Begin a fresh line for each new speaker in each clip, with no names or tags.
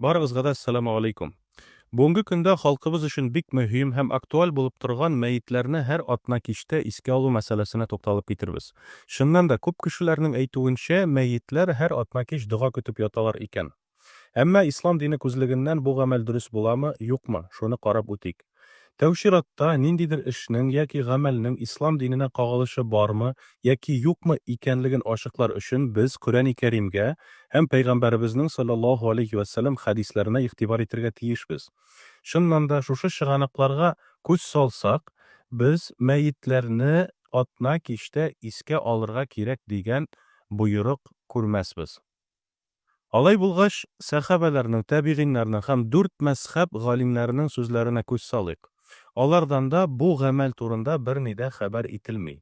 Барыгызга да Әссәламү алейкум! Бүгенге көндә халкыбыз өчен бик мөһим һәм актуаль булып торган мәетләрне һәр атна кичтә искә алу мәсьәләсенә тукталып китербез. Чыннан да, күп кешеләрнең әйтүенчә, мәетләр һәр атна кич дога көтеп яталар икән. Әмма ислам дине күзлегеннән бу гамәл дөрес буламы, юкмы, шуны карап үтик. Тәү чиратта, ниндидер эшнең яки гамәлнең ислам диненә кагылышы бармы яки юкмы икәнлеген ачыклар өчен без Коръәни Кәримгә һәм Пәйгамбәребезнең салләллаһу алейһи вә сәлләм хәдисләренә игътибар итергә тиешбез. Чыннан да, шушы чыганакларга күз салсак, без мәетләрне атна кичтә искә алырга кирәк дигән боерык күрмәсбез. Алай булгач, сәхабәләрнең, тәбигыйннарның һәм дүрт мәзхәб галимнәренең сүзләренә күз салыйк. Алардан да бу гамәл турында берни дә хәбәр ителми.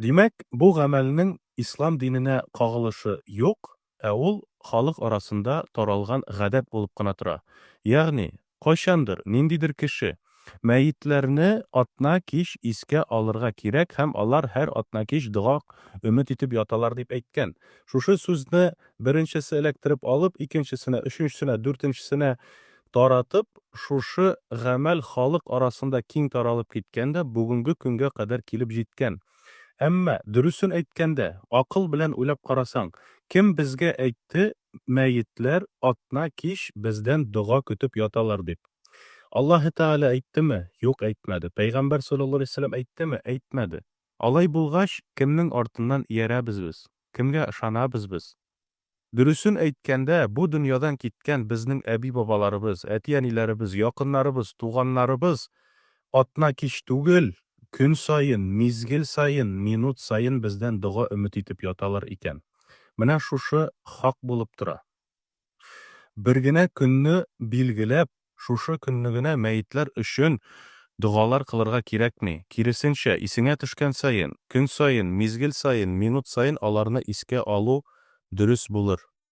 Димәк, бу гамәлнең ислам диненә кагылышы юк, ә ул халык арасында таралган гадәт булып кына тора. Ягъни, Кайчандыр, ниндидер кеше, Мәетләрне атна кич искә алырга кирәк һәм алар һәр атна кич дога өмет итеп яталар дип әйткән. Шушы сүзне беренчесе эләктереп алып, икенчесенә, өченчесенә, дүртенчесенә таратып, шушы гамәл халык арасында киң таралып киткән дә бүгенге көнгә кадәр килеп җиткән. Әмма, дөресен әйткәндә, акыл белән уйлап карасаң, кем безгә әйтте, мәетләр атна кич бездән дога көтеп яталар дип. Аллаһы Тәгалә әйттеме? Юк, әйтмәде. Пәйгамбәр салләллаһу галәйһи ва сәлләм әйттеме? Әйтмәде. Алай булгач, кемнең артыннан иярәбез без? Кемгә ышанабыз без? Дөресен әйткәндә, бу дөньядан киткән безнең әби-бабаларыбыз, әти-әниләребез, якыннарыбыз, туганнарыбыз Атна кич түгел, көн саен, мизгел саен, минут саен бездән дога өмет итеп яталар икән. Менә шушы хак булып тора. Бер генә көнне билгеләп, шушы көнне генә мәетләр өчен догалар кылырга кирәкми. Киресенчә, исеңә төшкән саен, көн саен, мизгел саен, минут саен аларны искә алу дөрес булыр.